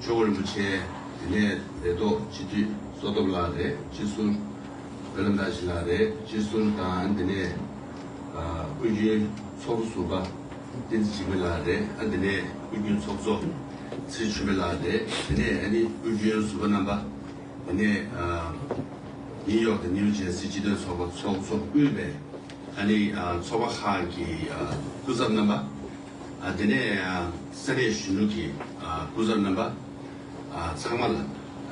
ཆོས་སྐུ་རིན་པོ་ཆེ་དེ་ནས་རེ་དོགས་སྤྱི་འཐུས་བསོད་སྟོབས་ལགས་རེད་སྤྱི་ཟུར་བེ་ལ་མདའ་ཞི་ལགས་རེད་སྤྱི་ཟུར་དང་དེ་ནས་སྐུ་རྒྱུན་ཚོགས་གཟུ་པ་བསྟན་འཛིན་འཇིགས་མེད་ལགས་རེད་ཨ་དེ་ནས་སྐུ་རྒྱུན་ཚོགས་གཙོ་ཚེ་ཆུ་བེ་ལགས་རེད་དེ་ནས་ཨ་ནི་སྐུ་རྒྱུན་གཟུ་པ་རྣམ་པ་དེ་ནས་ནིའུ་ཡོག་དང་ནིའུ་ཇེར་སི་སྤྱི་མཐུན་ཚོགས་པ་ཚོགས་གཙོ་དབུས་པའི་ཨ་ནི་ཚོགས་པ་ཁག་གི་སྐུ་ཚབ་རྣམ་པ། དེ་ནས་ས་གནས་གཞོན་ནུ་གི་སྐུ་ཚབ་རྣམ་པ་ཚང་མ་ལ་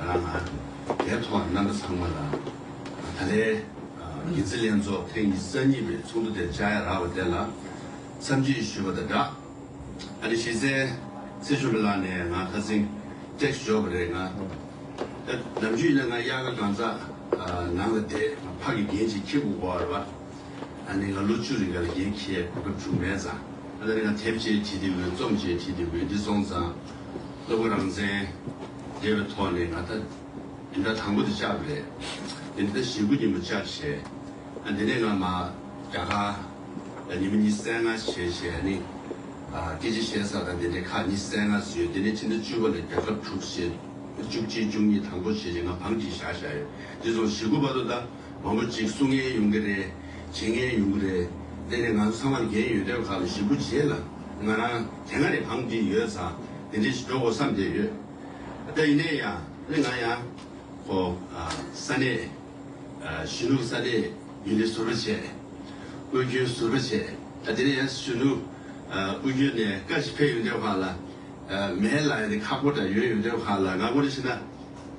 རང་དེའི་ཐོག་རྣམ་པ་ཚང་མ་ལ་ད་ལྟའི་རྒྱལ་སྲིད་ལྷན་ཚོགས་ཐེངས་ཉི་ས་གཉིས་པའི་ཚོགས་འདུ་དེ་བཅའ་ཡག་རག་པ་དེ་ལ་འཚམས་འདྲི་ཞུས་པ་དང་སྦྲགས་ཨ་ནི་གཞིས་རྩེ་ཚེ་ཆུང་ལགས་ནས་ང་ཁ་ཚིང text འཇོག་པ་རེད་ང་ནམ་རྒྱུན་ཡིན་ན་ང་དབྱར་ཁ་གང་ཟག་ནང་ལ་བསྡད་ཕག་གི་རྒྱན་ཅིག་ཁྱེད་དགུ་གོ་བར་བ་ཨ་ནེ་ང་ལོ་བཅུ་རེ་འགའ་ལ་རྒན་ཁྱེད་གོ་སྐབས་བྱུང་མེད་ཙང། ཨ་ལེ་ང་དེབ་ཅེས་བྲིས་ཏེ་འོས་རྩོམ་ཅེས་བྲིས་ཏེ་འོས་འདི་སོང་ཙང། སློབ་བུ་རང་བཙན། དེ་བའི་ཐོག་ནས་ང་ད། འདི་ད་དང་པོ་དེ་བཅག་པ་རེད། དེ་འདི་ད་ཞེ་དགུ་ཉིན་མོ་བཅག་བྱས། ཨ་དེ་ནས་ང་མ། རྒྱ་གར། ལ་ཉིན་མོ་གཉིས་བསད་སྔ་བྱས་བྱས་ཨ་ནི། ཨ་སྐད་ཆ་བཤད་ས་དང་དེ་འདྲའི་ཁག་གཉིས་བསད་སྔ་བཟོས་དེ་ནས་ཕྱི་ཟླ་བཅུ་པ་ལ་རྒྱ་ཁབ་དྲུག་བྱས། བཅུ་གཅིག་བཅུ་གཉིས་དང་པོ་བྱས་རྗེས་ང་བང་གིས་བཞག་བཞག་ཡོད་དེ་སོང་ཞེ་དགུ་པ་དོ་ད། མང་པོ་ཅིག་གསུང་ངན་ཡོང་གི་རེད། བྱེད་ངན་ཡོང་གི་རེད། དེ་ནི་ང་ཚོ་ཚང་མར་འགན་ཡོད་དོན་ཁག་ལ་ཞིབ་པོ་བྱེད་ལ། ང་རང་དེ་སྔ་ནས་གང་འདྲིས་ཡོད་ཚ་དེ་འདྲིས་འགྲོ་དགོས་བསམ་བསྡད་ཡོད། ད་ཡིན་ནའི་ཡང་ནི་ང་ཡང། ཁོ། ས་གནས། གཞོན་ནུ་ས་གནས་ཡུན་ནས་ཟུར་པ་བྱས། དབུས་རྒྱུན་ཟུར་པ་བྱས། ད་དེ་ནས་ཡང་གཞོན་ནུ། དབུས་རྒྱུན་ནས་བཀའ་ཞིག་ཕེབས་ཡོང་དོན་ཁག་ལ། མེད་ལ་ཡང་ནི་ཁག་པོ་འདྲ་ཡོད་ཡོང་དོན་ཁག་ལ་ང་ངོ་རེ་བྱས་ན།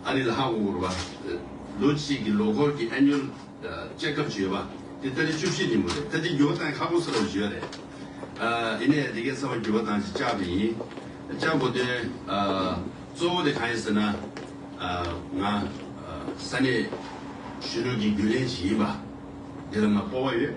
ཨ་རིའི་ལྷ་དབུ་བོར་བ། ལོ་གཅིག་གི་ལོ་འཁོར་གྱི Annual Check Up བྱོས་པ། དེ་ལྟ་ལི་བཅུ་བཞི་ཉིན་མོ་རེད་ད་ཅི་འགྱུར་བ་དང་ཁ་པོ་སེ་བ་བྱོས་རེད། དེ་ནས་དེ་གས་ཚ་བ་འགྱུར་བ་དང་ཅི་བཅག་པ་ཡིན། བཅག་གོ་དོན་གཙོ་བོ་དེ་གང་ཡིན་ཟེར་ན། ང་ས་གནས་གཞོན་ནུ་གྱི་རྒྱུན་ལས་ཅིག་ཡིན་པ། དེ་ལ་ང་སྤོ་བ་ཡོད།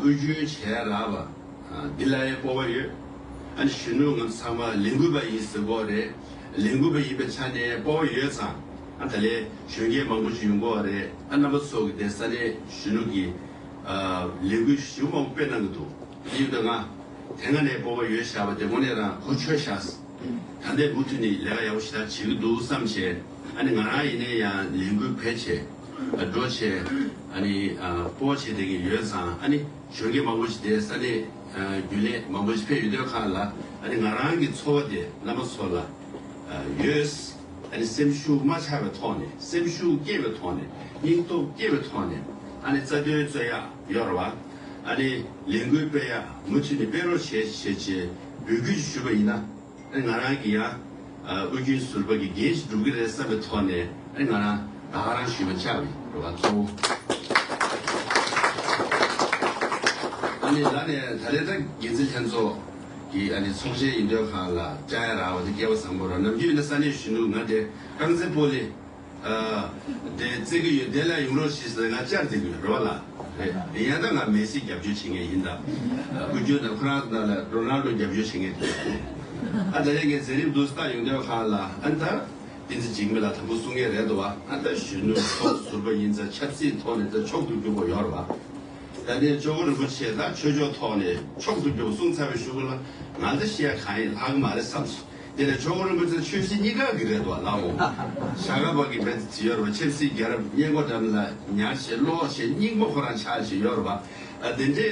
དབུས་རྒྱུན་བྱས་ལགས་པ། འདི་ལ་ཡང་སྤོ་བ་ཡོད། ཨ་ནི་གཞོན་ནུ་ངམ་ཚང་མ་ལས་འགུལ་བ་ཡིན་ཟེར་དགོས་རེད། ལས་འགུལ་བ་ཡིན་པའི་ཆ་ནས་སྤོ་བ་ཡོད་ཙང། ཨ་ད་ལས་གཞོན་སྐྱེས་མང་པོ་ཞིག་ཡོང་དགོས་བ་རེད། ཨ་རྣམ་པ་ཚོ་གི་དེ་ས་གནས་གཞོན་ནུ་གི། ལས་འགུལ་ཞེ་བོ་མང་པོ་སྤེལ་གནང་གི་འདུག་དེ་ཡིན་པའི་ང། དེ་སྔ་ནས་སྤོ་བ་ཡོད་བཞག་པ་དེ་དངོས་གནས་རང་གོ་ཆོད་བཞག། ད་ལྟའི་སྦུག་ཐུག་ནི་ལས་ཀ་ཡག་པོ་ཞིག་ད་བྱེད་ཀྱི་འདུག་བསམ་བྱས། ཨ་ནི་ང་རང་ཡེ་ནས་ཡང་ལས་འགུལ་བེད་བྱས། འགྲོ་བྱས། ཨ་ནི་སྤོ་བ་བྱས་དེ་གིན་ཡོད་ཙང་ཨ་ནི་གཞོན་སྐྱེས་མང་པོ་ཞིག་དེ་ས་གནས་རྒྱུན་ལས་མང་པོ་ཞིག་ཕེབས་ཡོད་དོད་ཁག་ལ་ཨ་ནི་ང་རང་གི་འཚོ་བ་དེ་བླ་མ་ཚོ་ལ་ཡོད། ཨ་ནི་སེམས་ཤུགས་མ་ཆག་པའི་ཐོག་ནས་སེམས་ཤུགས་སྐྱེད་པའི་ཐོག་ནས་སྙིང་སྟོབས་སྐྱེད་པའི་ཐོག་ནས་ཨ་ནི་རྩ་དོན་རྩོད་ཡག་གཡོར་བ་ཨ་ནི་ལས་འགུལ་སྤེལ་ཡག་མུ་མཐུད་ནས་སྤེལ་རོགས་བྱེད་བྱེད་བྱེད། འབོད་སྐུལ་ཞུས་པ་ཡིན་ན། ང་རང་གིས་ཡང་དབུས་རྒྱུན་ཟུར་པ་གི་འགན་ཞིག་སྒྲུབ་གི་རེད་བསམ་པའི་ཐོག་ནས་ང་རང་དྭ་ཧ་རང་ཞུས་པ་ཆགས་ཡོད་འགྲོ་བ་གཙོ་བོ། ཨ་ནི་ལ་ནས་ད་རེས་ད་གེ་འཛིན་ལྷན་ཚོགས་ཀྱི་ཨ་ནི་ཚོགས་ཆེན་ཡིན་འདོད་ཁང་ལ་བཅར་ཡ་རག་བ་དེ་སྐལ་བ་བཟང་པོ་རང་ནམ་རྒྱུན་ན་ས་གནས་གཞོན་ནུ་ང་དེ་ཀྲང་ཙེ་པོ་ལི་དེ་བརྩི་གི་ཡོད་དེ་ལ་ཡུག་རོ་ཤི་ཟེར་ང་བཅར་བརྩི་གི་ཡོད་རོ་ལ་རེད་ཡང་ད་ང་མེ་སི་རྒྱབ་སྐྱོར་བྱེད་ངེས་ཡིན་ད་བུ་རྒྱུད་དང་ཁོ་རང་ད་ལ་རོ་ནལ་རྡོ་རྒྱབ་སྐྱོར་བྱེད་ངེས་དེ་ཨ་ད་རེ་ངའི་མཛད་རིམ་དུ་སྟག་ཡུག་སྡོད་ཁང་ལ་ཨན་ད་ཏི་ཛི་འཇིགས་མེད་ལ་དམ་པོ་གསུང་ངེས་རེད་དོ་བ་ཨན་ད་གཞོན་ནུ་ཚོགས་ཟུར་པ་ཡིན་ད་ཆབ་སྲིད་ཐོག་ནས་ད་མཆོག་ཏུ་གྱུར་པོ་ཡོང་རོ་བ་ད་ནས་ཇོ་བོ་རིན་པོ་ཆེ་ད་ཆོས་ཕྱོགས་ཐོག་ནས་མཆོག་ཏུ་གྱུར་པོ་གསུང་ཚར་བས་ཞུ་གི་ལ་ང་ད་ཤེས་ཡ་གང་ཡིན་ལྷག་གི་མ་རེད་བསམས་སོ། དེ་ལས་ཆོས་འཁོར་རིན་པོ་ཆེ་ཆོས་སྲིད་གཉིས་ཀ་གི་རེད་དོ་ལགས་འོང། ཞག་ག་བར་གི་བེ་ཙི་ཙི་ཡོད་རོ་ཆེར་སྲིད་རྒྱལ་རབས་སྙན་གོ་འགྲམ་ལ་ཉར་ཞེས་བློ་བ་ཞེ་སྙིགས་མོ་ཁོ་རང་ཆགས་བཞིན་ཡོད་རོ་བ། དེ་འདྲའི་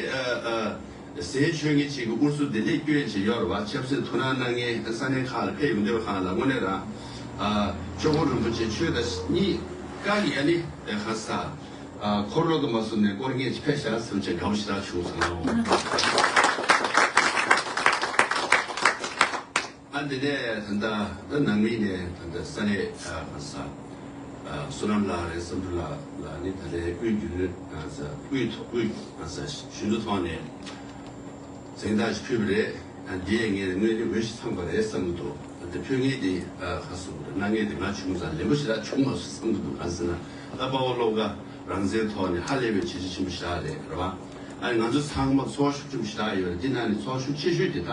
ཟས་ཆོས་ངན་བྱེད་ཀྱི་ཨུར་སུ་དེ་འདྲའི་སྐྱོན་བྱས་ཡོད་རོ་བ་ཆབ་སྲིད་ཐུགས་སྣང་གནང་མཁན་ས་གནས་ཁག་ལ་ཕེབས་ཡོང་དུས་ཧང་ལ་དངོས་གནས་རང། ཆོས་འཁོར་རིན་པོ་ཆེ་ཆོས་དང་སྲིད་གཉིས་ཀ་གི་ཨ་ནི་ཧང་ས། འཁོར་ལོ་དུ་མ་གསུམ་ནས་སྐོར་ངེས་ཅི་ཕེད་བྱ་སེམས་ཅན་དགྲ་བོ་ཞི་དྲག་བྱུང་སོང་ངོ། ཨ་འདི་ནས་ད་ལྟ་ཨ་ནང་མི་ནས་ད་ལྟ་ས་རེད་ཨ་ཧ་ས་བསོད་ནམས་ལགས་རེད་བསམ་འགྲུབ་ལགས་ལ་ནི་ད་ལྟའི་དབུས་རྒྱུ་ནོར་ཨ་ཧ་ས་དབུས་ཐོག་དབུས་ཨ་ཧ་ས་ཞུན་དུ་ཐོག་ནས་གཟེངས་རྟགས་ཅིག་ཕུལ་བ་རེད་ཨ་འདིས་ངས་དངོས་གནས་འོས་ཤིག་ཚང་པ་རེད་བསམ་གྱི་འདུག་ཨ་འདི་ཕུལ་ངེས་འདི་ཨ་ཧ་སུ་གནང་ངེས་འདི་ང་བྱུང་ཙང་ལེན་པོ་ཞི་དྲག་བྱུང་མ་སོང་བསམ་གྱི་འདུག་གང་ཟེར་ན། ད་དཔའ་བོ་སློབ་དགའ་རང་བཙན་ཐོག་ནས་ཧ་ལས་པའི་བྱས་རྗེས་ཆེན་པོ་ཞིག་བཞག་རེད་རེད་བ། ང་ཚོ་ཚང་མ་ཚོགས་ཞུགས་ཆེན་པོ་ཞིག་བཞག་ཡོད་རེད་འདི་ནང་ནས་ཚོགས་ཞུགས་ཆེ་ཤོས་དེ་དག་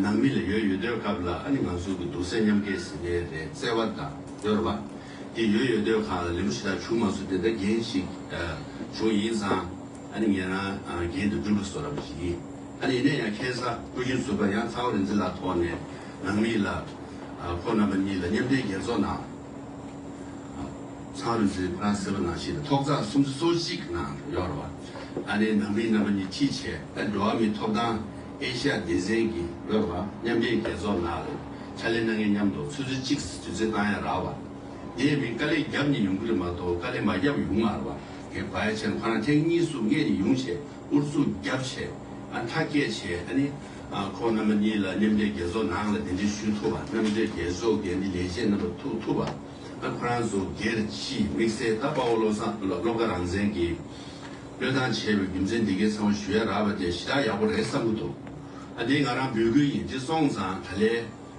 ནང་མི་ལ་ཡོད་ཡོད་སྡོད་སྐབས་ལ་ཨ་ནི་ང་ཚོ་གི་སྡུག་སེམས་མཉམ་སྐྱེད་ཟིན་ངེས་རེད་བརྩེ་བ་དང་སྡོད་རེད་བ། འདི་ཡོད་ཡོད་སྡོད་ཁང་ལ་ལེན་པོ་ཞིག་དག་བྱུང་མ་སོང་དེ་འདྲ་འགན་ཞིག་བྱུང་ཡིན་ཙང་ཨ་ནི་ངེད་རང་འགན་དེ་སྒྲུབ་ལ་བཟོ་ར་བ་ཞིག་ཡིན་ཨ་ནི་ཡིན་ན་ཡང་ཁེ་བཟང་སྐུ་བཞེངས་ཚུགས་པ་ཡང་ཚའོ་རིན་ཙི་ལགས་ཐོག་ནས་ནང་མི་ལ་ཁོ་རྣམ་པ་གཉིས་ལ་མཉམ་འབྲེལ་རྒྱལ་ཚོགས་ནང། ཚང་རུ་ཆུའི་ཕ་སེ་བ་ནང་བཞིན་ཐོག་རྩ་གསུམ་བཅུ་སོ་གཅིག་ནང་དུ་གཡོར་བ། ཨ་རིའི་ནང་མི་རྣམ་པ་ཉིས་ཁྲི་ཆེ་ཨ་འགྲོ་བ་མིའི་ཐོབ་ཐང་ཨེ་ཤ་སྡེ་ཚན་གྱིས་གཡོར་བ་མཉམ་འབྲེལ་རྒྱལ་ཚོགས་ནང་ལས་ཕྱ་ལས་སྣ་ལྔས་མཉམ་དུ་ཚོས་ཚོས་གཅིག་བཟི་བཟི་བཏང་ཡ་རག་བ། དེའི་མིན་དཀའ་ལས་རྒྱབ་ནས་ཡོང་གི་རེད་མ་གཏོགས་དཀའ་ལས་མ་རྒྱབ་ཡོང་ངར་བ་གས་བ་ཡ་ཆེན་ཁོ་རང་ཐེངས་གཉིས་སུ་ངས་ནི་ཡོང་བྱས་ཨུར་ཚུགས་རྒྱབ་བྱས་ཨ་མཐའ་སྐྱེལ་བྱས་ཨ་ནི། ཁོང་རྣམ་པ་གཉིས་ལ་མཉམ་འབྲེལ་རྒྱལ་ཚོགས་ནང་ལ་འདི་འདྲི་ཞུ་ཐུབ་པ་རྣམ་འབྲེལ་རྒྱལ་ཚོགས་ཀྱི་འདི་ལས་བྱེད་རྣམ་པ་ཐུག་ཐུབ་པ་ན་ཁོ་རང་ཚོ་སྒེར་གྱིས་དམིགས་བསལ་ད་དཔའ་བོ་བློ་བཟང་སློབ་དགའ་རང་བཙན་གྱིས་བློས་བཏང་བྱས་པའི་རྒྱུ་མཚན་འདི་གའི་ཚང་བ་ཞུ་ཡ་རག་པ་དེ་གཞི་བདག་ཡག་པོ་རེད་བསམ་གི་འདུག་ཨ་འདི་ང་རང་འབོད་སྐུལ་ཡིན་འདྲི་སོང་ཙང་ག་ལེ།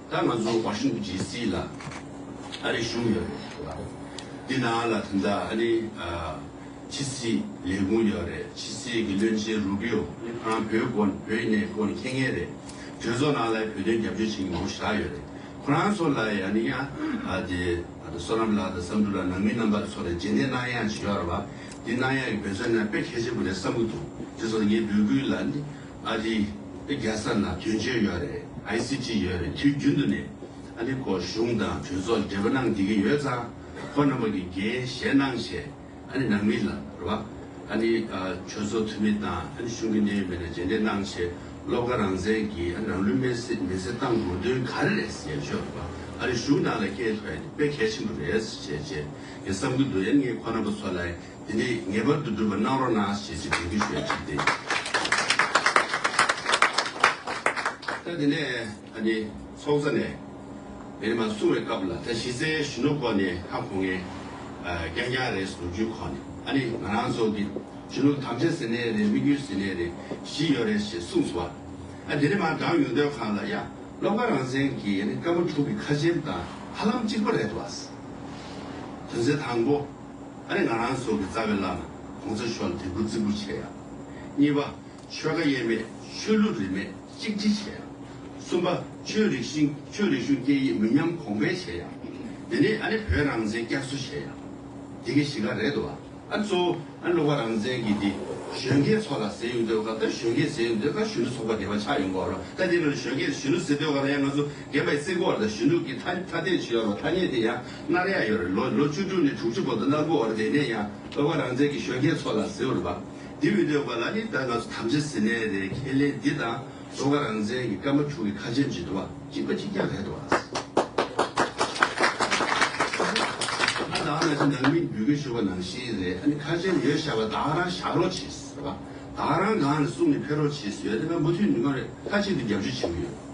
ད་ང་ཚོ་བྷ་ཤིང་ཏུན་ཇི་སི་ལ་ཨ་རི་གཞུང་ཡོད་རེད་ལ། འདི་ན་ལ་དེ་འདྲ་ཨ་རི་ཕྱི་སྲིད་ལས་ཁུངས་ཡོད་རེད་ཕྱི་སྲིད་ཀྱི་བློན་ཆེན་རུ་པི་ཡོ་ནི་ཁོ་རང་བོད་སྐོར་ནས་བོད་གནས་སྐོར་ནས་མཁྱེན་མཁན་རེད། གྲོས་ཚོགས་ནང་ལ་བོད་དོན་རྒྱབ་སྐྱོར་བྱེད་མཁན་མང་པོ་ཞིག་ལགས་ཡོད་རེད། ཁོ་རང་ཚོ་ལ་ཡང་ནི་ཡང་དེ་བསོད་ནམས་ལགས་དང་བསམ་འགྲུབ་ལགས་ནང་མི་རྣམ་པ་ཚོ་ལ་རྗེས་འདེད་གནང་ཡག་བྱེད་ཡོག་ར་བ། འདི་གནང་ཡག་གི་འབད་བརྩོན་གནང་དཔེ་གལ་ཆེན་པོ་རེད་བསམ་གྱི་འདུག་དེ་ཚོ་ལ་ངའི་འབོད་སྐུལ་ལ་ནི་ཨ་རི། དེ་རྒྱལ་ས་ན་དོན་གཅོད་ཡོད་རེད ICG ཡོད་རེད་དུས་རྒྱུན་དུ་ནས་ཨ་རི་སྐོར་གཞུང་དང་གྲོས་ཚོགས་འབྲེལ་བ་གནང་བསྡད་ཀྱི་ཡོད་ཙང་ཁོ་རྣམ་པ་གི་འགན་བཞེས་གནང་བྱས་ཨ་རི་ནང་མི་ལ་རེ་བ་ཨ་རི་གྲོས་ཚོགས་འཐུས་མི་དང་ཨ་རི་གཞུང་གི་གནད་ཡོད་མི་ལ་མཇལ་འབྲས་གནང་བྱས་སློབ་ག་རང་བཙན་གྱི་ཨ་རི་རང་ལུས་མེར་སྲེག་མེར་སྲེག་བཏང་དགོས་དོན་ག་རེ་རེད་ཟེར་ཆོས་རེད་པ་ཨ་རི་གཞུང་ནང་ལ་སྐད་ཐོས་དཔེ་གལ་ཆེན་པོ་རེད་ཟེར་བྱས་རྗེས་ངས་བསམ་གྱི་འདུག་ཡང་ངས་ཁོ་རྣམ་པ་ཚོ་ལ་དེ་ནས་ངེས་པར་དུ་འགྲུབ་པར་གནང་རོགས་གནང་ཞེས་ཞུ་འདེགས་ཞུ་བའི་ཕྱིར་ཏེ། ད་དེ་ནས་ཨ་ནི་ཚོགས་གཙོ་ནས་དེ་ནས་མ་གསུང་བའི་སྐབས་ལ་ད་གཞི་རྩའི་གཞོན་ནུ་སྐོར་ནས་ཁ་གོང་ངས་རྐྱང་རྐྱང་རེ་ཟུར་བརྒྱུད་ཁོ་ནས་ཨ་ནི་ང་རང་ཚོ་གི་གཞོན་ནུ་དམ་བཅའ་ཟེར་ནའི་རེ་མི་རྒྱུད་ཟེར་ནའི་རེ་བཞི་ཡོད་རེ་ཞེས་གསུངས་སོ། ཨ་དེ་ནས་མ་འདང་ཡོང་དོན་གང་ལ་ཡ་སློབ་ཁ་རང་བཙན་གྱི་ཨ་ནི་སྐར་མ་དྲུག་གི་ཁ་ཆེམས་དང་ཧ་ལམ་གཅིག་པོ་རེད་དོ། དོན་ཚན་དང་པོ། ཨ་ནི་ང་རང་ཟོག་གི་རྩ་བའི་བླ་ན་གོང་ས་མཆོག་ལ་དད་གུས་རྩི་བཀུར་བྱེད་ཡ། གཉིས་པ། ཆོལ་ཁ་དབྱེ་མེད་ཆོས་ལུགས་རིས་མེད་གཅིག་སྒྲིལ་བྱེད་ཡ། གསུམ་པ། ཆོས་རིག་གཞིན་ཆོས་རིག་གཞུང་སྐད་ཡིག་མི་ཉམས་གོང་འཕེལ་བྱེད་ཡ། དེ་ནས་ཨ་ནི་བོད་རང་བཙན་བསྐྱར་གསོ་བྱེད་ཡ། དེ་གི་གཞི་ཁ་རེད་དོ། ཨ་ནི་གཙོ་བོ་ཨ་ནི་ལོག་པ་རང་བཙན་གི་དེ་གཞོན་སྐྱེས་ཚོགས་ལ་ཟེར་ཡོང་འདོད་སྐབས་ད་གཞོན་སྐྱེས་ཟེར་ཡོང་འདོད་སྐབས་གཞོན་ནུ་ཚོགས་པ་འདི་བ་ཆགས་ཡོང་སྐབས་ལ་ད་དེ་ལོ་ལ་གཞོན་སྐྱེས་ད་གཞོན་ནུ་ཟེར་འདོད་སྐབས་ལ་ཡང་ང་ཚོ་རྒན་པ་ཡི་རྩིས་འཁོར་ལ་གཞོན་ནུ་གི་ཐ་ཐ་དད་བྱེད་ཡོང་བ་ཐ་སྙད་དེ་ཡང་སྔར་ཡང་ཡོད། ལོ་ལོ་བཅུ་དྲུག་ནས་དྲུག་ཅུ་བོ་དོ་ནག་པོའི་བར་དེ་ནས་ཡང་བོད་པ་རང་བཙན་གྱི་གཞོན་སྐྱེས་ཚོ་ལ་གཟི་བར་འབབ། འདི་བི་དོའི་བར་ལ་ནི་བོད་ང་ཚོ་ཐམས་ཅད་གཟི་ནས་རེད་ཁས་ལེན་འདི་དང་བཟོ་ཁ་རང་བཙན་གྱི་སྐར་མ་དྲུག་གི་ཁ་ཆེམས་བྱེད་འདུག་བ་གཅིག་པ་གཅིག་ཀྱང་རེད་བ། ཨ་དང་ང་ཚོ་ནང་མི་འགྲུལ་སྐད་ཤོར་བ་ནང་བཞིན་རེད་ཨ་ནི་ཁ་ཆེམས་ཡོད་ཤག་བ་དག་རང་བཞག་རོགས་བྱེད་བ། དག་རང་གང་ནས་གསུང་ནས་ཕེབས་རོགས་བྱེད་བཟོད་དེ་ང་མུ་མཐུད་ནུས་ཁམས་རེད་ཁ་ཆེད་དུ་རྒྱབ་སྐྱོར་བྱེད་ཀྱི་ཡོད།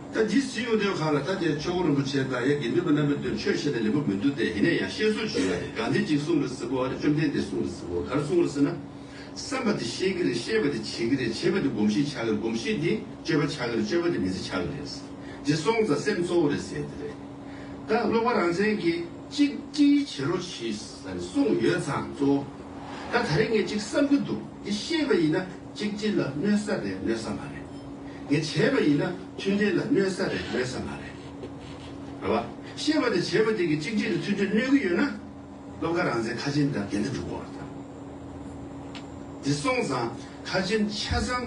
ད་འདི་ཟིན་ཡོང་དོན་གང་ལ་ད་དེར་ཆོས་སྐུ་རིན་པོ་ཆེ་དང་ཡ་དགེ་འདུན་པ་རྣམ་པའི་དོན་ཆོས་བཤད་ན་ལེགས་པོ་མི་འདུག་སྟེ་ཡིན་ན་ཡང་ཤེས་སོ་ཇི་ཡོད་རེད་གང་དེ་གཅིག་གསུངས་རེ་ཟིན་པོ་ཨ་རེ་བཅོམ་ལྡན་འདས་གསུངས་རེ་ཟིན་པོ་ག་རེ་གསུངས་རེ་ཟིན་ན། བསམ་པ་དེ་ཤེས་ཀྱི་རེད་ཤེས་པ་དེ་བྱེད་ཀྱི་རེད་བྱེད་པ་དེ་སྒོམ་གཞི་ཆགས་ཀྱི་རེད་སྒོམ་གཞི་དེ་སྤྱོད་པ་ཆགས་ཀྱི་རེད་སྤྱོད་པ་དེ་མི་ཚེ་ཆགས་ཀྱི་རེད། དེ་སོང་ཙང་སེམས་གཙོ་བོ་རེད་ཟེར་གྱི་རེད། ད་ཀློག་པ་རང་བཙན་གྱིས་གཅིག་བཀྲིས་བྱེད་རོགས་གྱིས་ཟེར་ནས་གསུངས་ཡོད་ཙང་གཙོ་བོ། ད་ད་རེས་ངས་གཅིག་བསམ་གྱི་འདུག་འདི་ཤེས་པ་ཡིན་ན། གཅིག་སྤྱི་ལ་གནོད་ས་རེད་གནོད་ས་མ་རེད། དེ་བྱས་པ་ཡིན་ན་མཐུན་འབྲེལ་ལ་གནོད་ས་རེད་གནོད་ས་མ་རེད། རེད་བ། ཤེས་པ་དེ་བྱས་པ་དེ་གི་གཅིག་སྤྱི་ལ་མཐུན་འབྲེལ་གནོད་གི་ཡོད་ན། སློབ་ཁ་རང་བཙན་ཁ་ཆེན་འདྲ་འགན་འདྲ་འགྲུབ་གོ་རེད། དེ་སོང་ཙང་ཁ་ཆེན་ཆ་ཚང།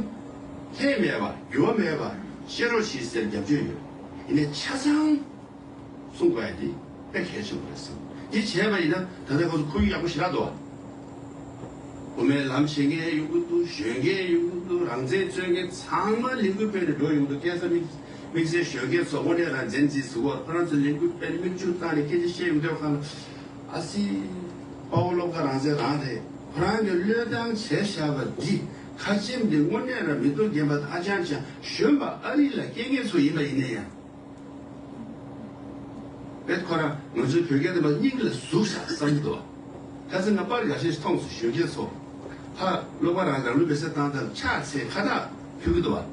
ལྷད་མེད་བ་འགྱུར་བ་མེད་བ། ཤེས་རོགས་ཞེས་ཟེར་རྒྱབ་སྐྱོད་ཡོད། ཡིན་ནས་ཆ་ཚང། གསུངས་པ་ཡིན་དེ་དཔེ་གལ་ཆེན་པོ་རེད་བསམ། དེ་བྱས་པ་ཡིན་ན་ད་ལྟའི་སྐབས་སུ་ཁོར་ཡུག་ཡག་པོ་ཞིག་རག་འདུག་བ། དབུ་མའི་ལམ་བྱེད་མཁན་ཡོང་གི་འདུག་གཞོན་སྐྱེས་ཡོང་གི་འདུག་རང་བཙན་རྩོད་མཁན་ཚང་མ་ལས་འགུལ་སྤེལ་ནས་འགྲོ་ཡོང་གི་འདུག་སྐལ་བཟང་དམིགས་བསལ་གཞོན་སྐྱེས་ཚོ་དབུ་མའི་རང་བཙན་འཛིན་ཟིན་བར་ཁོ་རང་ཚོ་ལས་འགུལ་སྤེལ་ནས་མིག་ཆུ་བཏང་ནས་སྐད་ཆ་བཤད་ཡོང་འདོད་ག་ལ། ཨ་སི། དཔའ་བོ་སློབ་དགའ་རང་བཙན་རང་རེད་ཁོ་རང་གི་བློས་བཏང་བྱས་བཞག་པ་འདི་ཁ་ཆེམས་འདི་དངོས་གནས་ར་མི་འདུག་རྒན་པ་ད་ཅང་ཅང་གཞོན་པ་ཨ་རི་ལ་སྐྱེས་མཁན་ཚོ་ཡིན་པ་ཡིན་ན་ཡང། པས་ཁོ་རང་ང་ཚོའི་བོད་སྐད་དེ་མ་སྙིང་ལ་ཟུག་བཞག་བསམ་གྱི་འདུག་ཨ། ད་ཚེ་ང་པར་ཡག་ཤས་ཤིག་མཐོང་སོང་གཞོན་སྐྱེས་ཚོ། ཧ། ཀློག་པ་རང་རང་ལུས་པའི་གསེར་ཐང་ལྟར་ཕྱག་འཚལ་ཁ་བཏགས་ཕུལ་གྱི་འདུག་ཨ།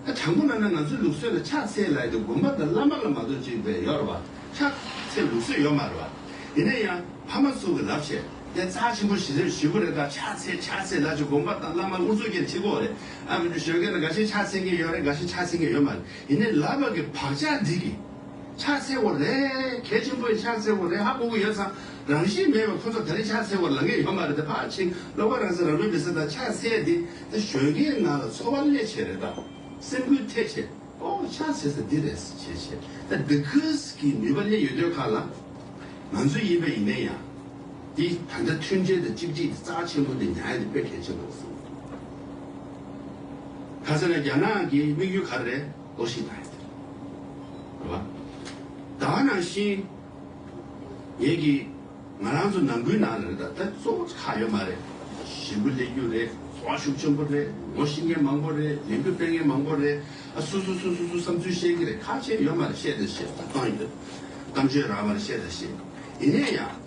ད་དྲང་པོ་གནང་ན་ང་ཚོའི་ལུགས་སྲོལ་ལ་ཕྱག་འཚལ་ལགས་ཀྱི་དགོན་པ་དང་བླ་མ་ལ་མ་གཏོགས་གཅིག་པའི་ཡོད་རེད་པ། ཕྱག་འཚལ་ལུགས་སྲོལ་ཡོད་མ་རེད་པ། ཡིན་ན་ཡང་ཕ་མ་ཚོ་གི་རབས་ཆད་དེ་རྩ་ཆེན་པོ་ཞིག་རེད་ཞུ་གི་རེད་ད་ཕྱག་འཚལ་ཕྱག་འཚལ་ལགས་ཀྱི་དགོན་པ་དང་བླ་མ་དབུ་འཛུགས་མཁན་གཅིག་གོ་རེད་ཨ། འབྲུ་གཞོན་སྐྱེས་ན་འགའ་ཤས་ཕྱག་འཚལ་མཁན་ཡོད་རེད་འགའ་ཤས་ཕྱག་འཚལ་མཁན་ཡོད་མ་རེད། དེ་ནས་ལ་བག་གི་བག་ཆགས་འདི་གི། ཕྱག་འཚལ་བོ་རེ། གལ་ཆེན་པོའི་ཕྱག་འཚལ་བོ་རེ་ཧ་གོ་གི་ཡོད་ཙང་རང་བཞིན་མེད་པའི་ཁོ་ཚོར་ད་རེས་ཕྱག་འཚལ་བོ་ལ་ངེས་ཡོད་མ་རེད་དེ་ཕར་ཕྱིན་ལ་བ་རང་སེམས་རང་མེད་པའི་སེམས་དང་ཕྱག་འཚལ་འདི་དེ་གཞོན་སྐྱེས་ནང་ལ་འཚོ་བ་སླད་བྱས་རེད་དམ། སེམས་འགུལ་ཐེབས་ཆེད་ཨོ་ཕྱག་འཚལ་ས་འདི་རེད་ཟེར་བྱས་བྱས་ད་འདི་ཁུལ་གྱི་ནུས་པ་སླད་ཡོད་དོད་ཁག་ལ། ང་ཚོའི་ཡིན་པ་ཡིན་ནའི་ཡང། འདི་ད་ལྟ་མཐུན་སྒྲིལ་དང་གཅིག་སྒྲིལ་གྱི་རྩ་བ་ཆེན་པོ་འདི་ཉག་ཡ་འདི་དཔེ་གལ་ཆེན་པོ་རེད་བསམ་གྱི་འདུག་ག་ཚོད་ན་རྒྱ་ནག་གི་དམིགས་ཡུལ་ག་རེ་རེད་ལོགས་ཤིག་བལྟ་ཡི་འདུག་ག་བ་ད་ནང་བཞིན་ངེད་ཀྱི་ང་རང་ཚོ་ནང་ཁུལ་ནང་ལ་རེད་ད་ལྟ་གཙོ་བོ་ཁག་ཡོད་མ་རེད་ཞི་འགུལ་སླེབས་རྒྱུ་རེད་ཚོ་བ་ཤུགས་ཆེན་པོ་རེད་ངོ་ཤེས་མཁན་མང་པོ་རེད་ལས་འགུལ་སྤེལ་མཁན་མང་པོ་རེད་ཨ་སུ་སུ་སུ་སུ་སུ་བསམ་ཚུལ་བཤད་ཀྱི་རེད་ཁག་ཆེན་ཡོད་མ་རེད་བཤད་ད་བཤད་ད་བཏང་ཡོད་གཏམ་བརྗོད་ར་བ་རེད་བཤད་ད་བཤད་ཡིན་ནས་ཡང།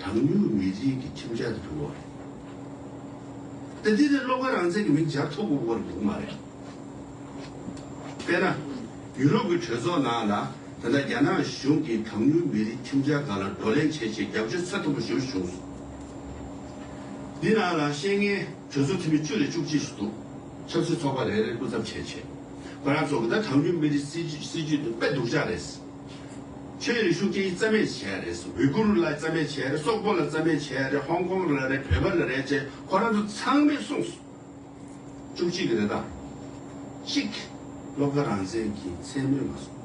གྲངས་ཉུང་མི་རིགས་ཀྱི་ཁྱིམ་བྱ་དུ་གྱུར་བ་རེད། དེ་དུས་ནས་སློབ་དགའ་རང་བཙན་གྱི་མིང་སྦྱར་ཐོ་འགོད་དགོས་རེ་འདུག་མ་རེད། དཔེར་ན། ཡུ་རོབ་ཀྱི་གྲོས་ཚོགས་ནང་ལ་ད་ལྟ་རྒྱ་ནག་གཞུང་གིས་གྲངས་ཉུང་མི་རིགས་ཁྱིམ་བྱ་འགའ་ལ་བགྲོ་གླེང་བྱེད་ཆེད་རྒྱབ་སྐྱོར་ཚད་མཐོ་པོ་ཞུ་བྱུང་སོང། འདི་ནང་ལ་ཤེས་ངེས་གྲོས་ཚོགས་འཐུས་མི་བཅུ་ལས་བཅུ་གཅིག་སུ་འདུག་ཆབ་སྲིད་ཚོགས་པ་རེ་རེར་སྐུ་ཚབ་བྱེད་ཆེད་ཁོ་རང་ཚོ་གི་ད་གྲངས་ཉུང་མི་རིགས་སྲིད་ཇུས་དེ་དཔེ་སྡུག་ཅག་རེད། ཆོས་རིག་ཤུགས་ཀྱིས་རྩ་མེད་བྱས་རེད་ཨུ་གུ་རུ་ལ་རྩ་མེད་བྱས་རེད་སོག་པོ་ལ་རྩ་མེད་བྱས་རེད་ཧོང་ཀོང་ལ་རེད་བོད་པ་ལ་རེད་ཅེས་ཁོ་རང་ཚོ་ཚང་མས་གསུངས་སོང། བཅུ་གཅིག་རེད་དམ། གཅིག། སློབ་ཁ་རང་བཙན་གྱི་མཚན་མོས་མ་སོང།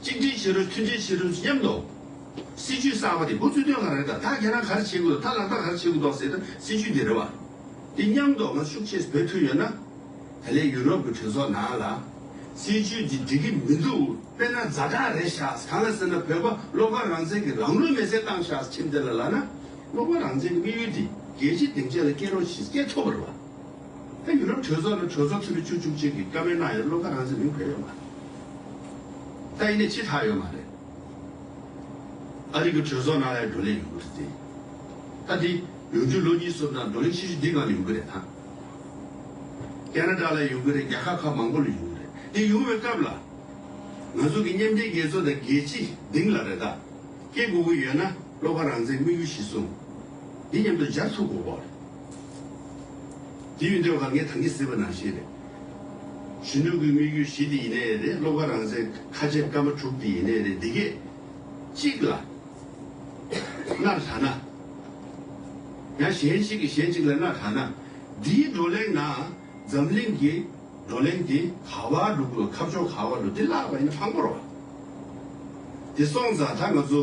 གཅིག་སྒྲིལ་བྱེད་རོགས་མཐུན་སྒྲིལ་བྱེད་རོགས་མཉམ་དུ། སྲིད་ཇུས་གསར་པ་དེ་འགོ་བཙུགས་དོན་གང་རེད་དམ་ད་ཁྱེད་རང་ག་རེ་བྱེད་དགོས་དང་ད་ལག་བསྟར་ག་རེ་བྱེད་དགོས་དོགས་སེ་ད་སྲིད་ཇུས་འདི་རེད་བ། འདི་མཉམ་དུ་ང་ཤུགས་ཆེས་འབད་ཐུབ་ཡོད་ན། ད་ལེ་ཡུ་རོབ་ཀྱི་གྲོས་ཚོགས་ནང་ལ། སྲིད་ཇུས་འདི་འགྲིག་གི་མི་འདུག་དཔེར་ན་རྫ་དྲག་རེད་ཤགས་གང་ལ་ཟེར་ན་བོད་པ་བློ་དཀར་རང་བཙན་གྱི་ལམ་ལུགས་མེད་སའི་ཏང་ཤགས་ཁྱིམ་དེ་ལ་ལགས་ན། བློ་དཀར་རང་བཙན་གྱི་དམིགས་ཡུལ་དེ་རྒྱལ་སྤྱིའི་སྡིངས་ཆ་ལ་སྐྱེལ་རོགས་ཞེས་སྐད་ཐོབ་པར་བ། ཨ་ཡུ་རོབ་གྲོས་ཚོགས་ནི་གྲོས་ཚོགས་འཐུས་མི་བཅུ་བཅུ་གཅིག་གིས་བཀའ་མོལ་གནང་ཡོད་བློ་ཁ་རང་ཚོད་མིན་ཕེབས་ཡོད་མ་རེད། ད་ཡིན་ནས་ཅི་ཐག་ཡོད་མ་རེད། ཨ་རིག་གི་གྲོས་ཚོགས་ནང་ལའི་བགྲོ་གླེང་ཡོང་གི་རེད་དེ། ད་དེ་ཡོང་རྒྱུ་ལོ་གཉིས་གསུམ་ནང་བགྲོ་གླེང་ཤེས་ཤུ་འདི་ནང་ལ་ཡོང་གི་རེད་ད། ཀ་ན་ཀྲ་ལ་ཡོང་གི་རེད་རྒྱ་ཁག་ཁག་མང་པོ་ལ་ཡོང་གི་རེད་དེ་ཡོང་བའི་སྐབས་ལ། ང་ཚོ་གི་མཉམ་འབྲེལ་རྒྱལ་ཚོགས་དང་རྒྱལ་སྤྱི་སྡིངས་ལ་རེ་ད་སྐྱེལ་དགོས་ཀྱི་ཡོད་ན་བློ་ཁ་རང་ཚད་དམིགས་ཡུལ་གཞི་བཟུང་འདི་མཉམ་དུ་སྦྱར་ཐུབ་དགོས་པ་རེད། དེ་ཡོད་འདོད་ག་ངས་དང་གི་ཟེར་བ་ནང་བཞིན་རེད། གཞོན་ནུ་གུས་དམིགས་ཡུལ་བཞི་དེ་ཡིན་ནའི་རེད་སློབ་ཁ་རང་བཟས་ཁ་ཆད་སྐར་མ་དྲུག་དེ་ཡིན་ནའི་རེད་འདི་གས། གཅིག་ལ། མནར་ལྷག་ན། ཡང་གཞན་ཞིག་གིས་གཞན་ཅིག་ལ་མནར་ལྷག་ན། འདིའི་བགྲོ་གླེང་ནང་འཛམ་གླིང་གི་བགྲོ་གླེང་དེ་ག་བ་ལུག་ལོ་ཁ་བྱོ་ག་བ་ལུག་དེ་བརླག་པ་ཡིན་ན་དྲང་པོ་རོགས། དེ་སོང་ཙང་ད་ང་ཚོ།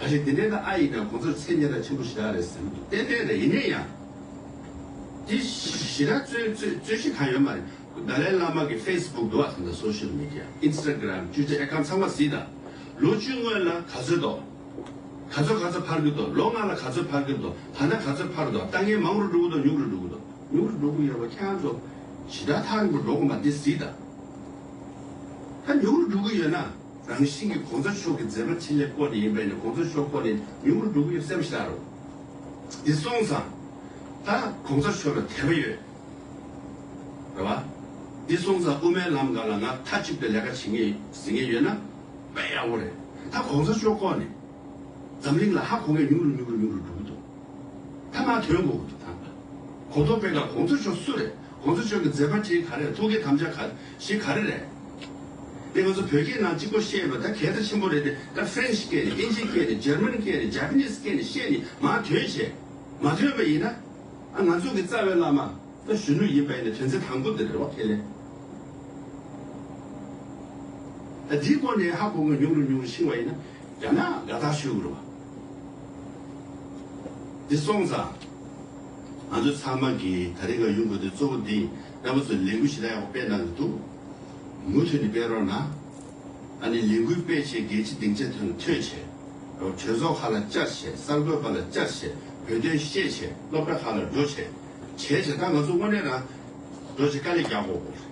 ཨ་ལེ་དེ་འདྲའི་ན་ཨ་ཡིན་ན་ཁོང་ཚོར་ཚད་ཉེ་ར་ཆེན་པོ་ཞིག་རག་རེད་ཟེར་འདུག་གཏན་འཁེལ་རེད་ཡིན་ནའི་ཡང། དེ་བཞི་ར་རྩོད་རྩོད་གཞི་གང་ཡོད་མ་རེད་དཱ་ལའི་བླ་མ་གི་ཧྥེས་སྦུག་འདུག་ཨ་དེ་འདྲ་སོ་ཤེལ་མེ་དྲ་ཨིན་སྟ་ཀིརམ་ཏུའི་ཏྲི་ཨེ་ཀང་ཚང་མ་བཟི་དང་ལོ་བཅུ་སྔོན་ལ་ག་ཚོད་དོ་ག་ཚོད་ག་ཚོད་འཕར་གི་དོ་ལོ་ལྔ་ལ་ག་ཚོད་འཕར་གི་དོ་ད་ནས་ག་ཚོད་འཕར་དོ་ལྟ་ངན་མང་རུ་འགྲོ་གི་དོ་ཉུག་རུ་འགྲོ་གི་དོ་ཉུག་རུ་འགྲོ་གི་ཡོད་པ་ཁྱེད་རང་ཚོ་ཇི་ལྟར་ཐག་རིང་པོ་འགྲོ་གི་མ་དེ་བཟི་དང་ད་ཉུག་རུ་འགྲོ་གི་ཡོད་ན། རང་བཞིན་གྱི་གོང་ས་མཆོག་གི་མཛད་པ་ཕྲིན་ལས་སྐོར་ནི་ཡིན་པས་ནི་གོང་ས་མཆོག་ཁོ་ནས་ཉུང་ངུར་འགྲོ་གི་ཡོད་སེམས་ཤར་རོ། འདི་གསུངས་སམ། ད་གོང་ས་མཆོག་ལ་དད་པ་ཡོད། རེད་བ། འདི་གསུངས་སམ་དབུ་མའི་ལམ་འགའ་ལ་ང་མཐའ་གཅིག་ཏུ་ལས་ཀ་བྱེད་ངེས་ཟེར་ངེས་ཡོད་ན། དཔེ་ཡག་པོ་རེད། ད་གོང་ས་མཆོག་སྐོར་ནས་འཛམ་གླིང་ལ་ཧ་གོ་མཁན་ཉུང་རུ་ཉུང་རུ་ཉུང་རུ་འགྲོ་གི་འདུག་ད་ང་དོན་གོ་གི་འདུག་ད། གོ་ཐོག་དཔེ་ཀ་གོང་ས་མཆོག་སུ་རེད་གོང་ས་མཆོག་གི་མཛད་པ་ཕྲིན་ག་རེད་ཐུགས་ཀའི་དམ་བཅའ་ག། ཞིག་ག་རེ་རེད། དེ་ང་ཚོ་བོད་སྐད་ནང་གཅིག་པོ་བཤད་པ་ད་གལ་ད་ཆེན་པོ་རེད་དེ་ད French སྐད་ནས་ཨིན་ཇི་སྐད་ནས German སྐད་ནས Japanese སྐད་ནས་བཤད་ནི་མ་དོན་བྱས། མ་དོན་པ་ཡིན་ན། ང་ཚོ་གི་རྩ་བའི་བླ་མ་ད་གཞོན་ནུ་ཡིན་པ་ཡིན་ན་དོན་ཚན་དང་པོ་འདི་རེད་བ་ཁས་ལེན། ད་འདིའི་སྐོར་ནས་ཧ་གོ་དགོས་ཉུང་རུ་ཉུང་རུ་ཕྱིན་བ་ཡིན་ན་རྒྱ་ནག་དགའ་རྟགས་ཞུ་དགོས་རུ་བ། འདི་སོང་ཙང། ང་ཚོ་ཚང་མ་གིས་ད་རིང་ག་ཡུན་དགོས་དོན་གཙོ་བོ་འདི་ཡིན་དཔལ་བོ་ཚོས་ལས་འགུལ་ཇི་ལྟར་ཡག་པོ་སྤེལ་གནང་གི་འདུག་མུ་མཐུད་ནས་སྤེལ་རོགས་གནང། ཨ་ནི་ལས་འགུལ་སྤེལ་བྱེད་རྒྱལ་སྤྱི་སྡིངས་ཆ་ཐོན་ལ་ཐོས་བྱེད། གྲོས་ཚོགས་ཁག་ལ་བཅར་བྱེད་གསར་འགོད་པ་ལ་བཅར་བྱེད་བོད་དོན་ཤེས་བྱེད་སློབ་གྲྭ་ཁག་ལ་འགྲོ་བྱེད། བྱས་བྱས་ད་ང་ཚོ་དངོས་གནས་རང་འགྲོ་བྱེད་དཀའ་ལས་རྒྱག་དགོས་པོ་རེད།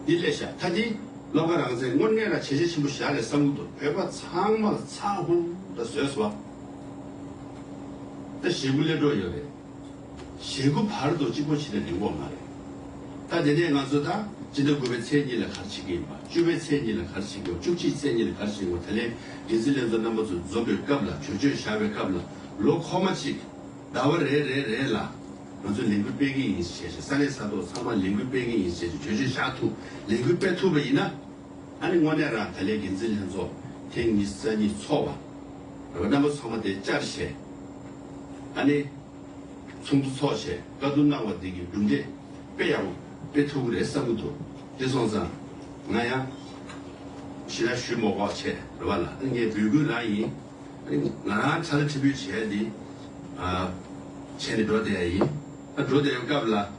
འདི་སླད་ཤ་ཐ་འདི་སློབ་ག་རང་ཚེ་དངོས་གནས་རང་བྱས་རྗེས་ཆེན་པོ་བཞག་ལས་སམ་དུ་བོད་པ་ཚང་མ་ལ་ཚ་ཧུ་ར་བཟོས་སོ། ད་ཞེ་དགུ་སླེབས་གྲོགས་ཡོད་རེད། ཞེ་དགུ་བར་དུ་གཅིག་པོ་བྱེད་ན་འགྲིག་འོག་མ་རེད། ད་དེ་ནས་ང་ཚོ་ད་ཅི་འདྲ་དགུ་བའི་ཚེས་གཉིས་ལ་གར་བྱེད་ཀྱི་ཡིན་པ་བཅུ་བའི་ཚེས་གཉིས་ལ་གར་བྱེད་དགོས་བཅུ་གཅིག་ཚེས་གཉིས་ལ་གར་བྱེད་དགོས་དེ་ལས་འགན་འཛིན་ལས་ཚོགས་རྣམ་པ་ཚོ་འཛོམས་པའི་སྐབས་ལ་གྲོས་ཆོད་བཞག་པའི་སྐབས་ལ་ལོ་འཁོར་མ་གཅིག་ཟླ་བ་རེ་རེ་རེ་ལ་ང་ཚོ་ལས་འགུལ་སྤེལ་གྱི་ཡིན་ཞེས་བྱས་ས་གནས་ས་ཐོག་ཚང་མར་ལས་འགུལ་སྤེལ་གྱི་ཡིན་ཞེས་གྲོས་ཆོད་བཞག་ཐུབ་ལས་འགུལ་སྤེལ་ཐུབ་པ་ཡིན་ན། ཨ་ནི་དངོས་གནས་ར་ག་ལའི་འགན་འཛིན་ལྷན་ཚོགས་ཐེངས་ཉི་ས་གཉིས་ཚོགས་བ། ར་ག་རྣམ་པ་ཚང་མ་དེ་བཅར་བྱས། ཨ་ནི། ཚོགས་འདུ་ཚོགས་བྱས་བཀའ་བསྡུར་གནང་བ་འདི་གི་གྲུབ་འབྲས་དཔེ་ཡག་པོ་དཔེ་ཐུབ་ཀི་རེད་བསམ་གི་འདུག་དེ་སོང་ཙང་ང་ཡང། ཕྱི་ལ་བཞུད་མོག་མོག་བྱས་ར་བ་ལ་ཨ་ནི་ངས་འབོད་སྐུལ་ར་ཡིན། ཨ་ནི་ང་རང་ཁྲ་ལ་ཁྲི་འབོད་བྱས་འདི། བྱས་ནི་འགྲོ་བསྡད་ཡ་ཡིན། ཨ་འགྲོ་བསྡད་ཡོང་སྐབས་ལ།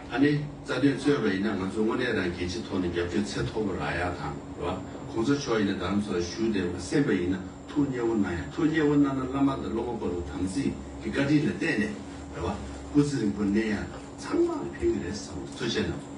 ཨ་ནེ། རྩ་དོན་རྩོད་པ་ཡིན་ན་ང་ཚོ་དངོས་གནས་རང་གི་ཆེས་ཐོག་ནས་རྒྱབ་སྐྱོར་ཚད་མཐོ་པོ་རག་ཡ་དང་བ། གོང་ས་མཆོག་ཡིན་ན་དམ་ཚོགས་ཞུ་བདེ་བ་སེམས་པ་ཡིན་ན་ཐུགས་མཉེས་བོ་གནང་ཡ་ཐུགས་མཉེས་བོ་གནང་ན་བླ་མ་དང་སློབ་མ་པ་རུ་དམ་ཚིག་གི་བཀའ་དྲིན་ལ་བརྟེན་ནས་བ། སྐུ་ཚེ་རིང་པོ་གནས་ཡ། ཚང་མ་ཕན་གི་རེད་བསམ་བ་འཚོལ་བྱས་གནང།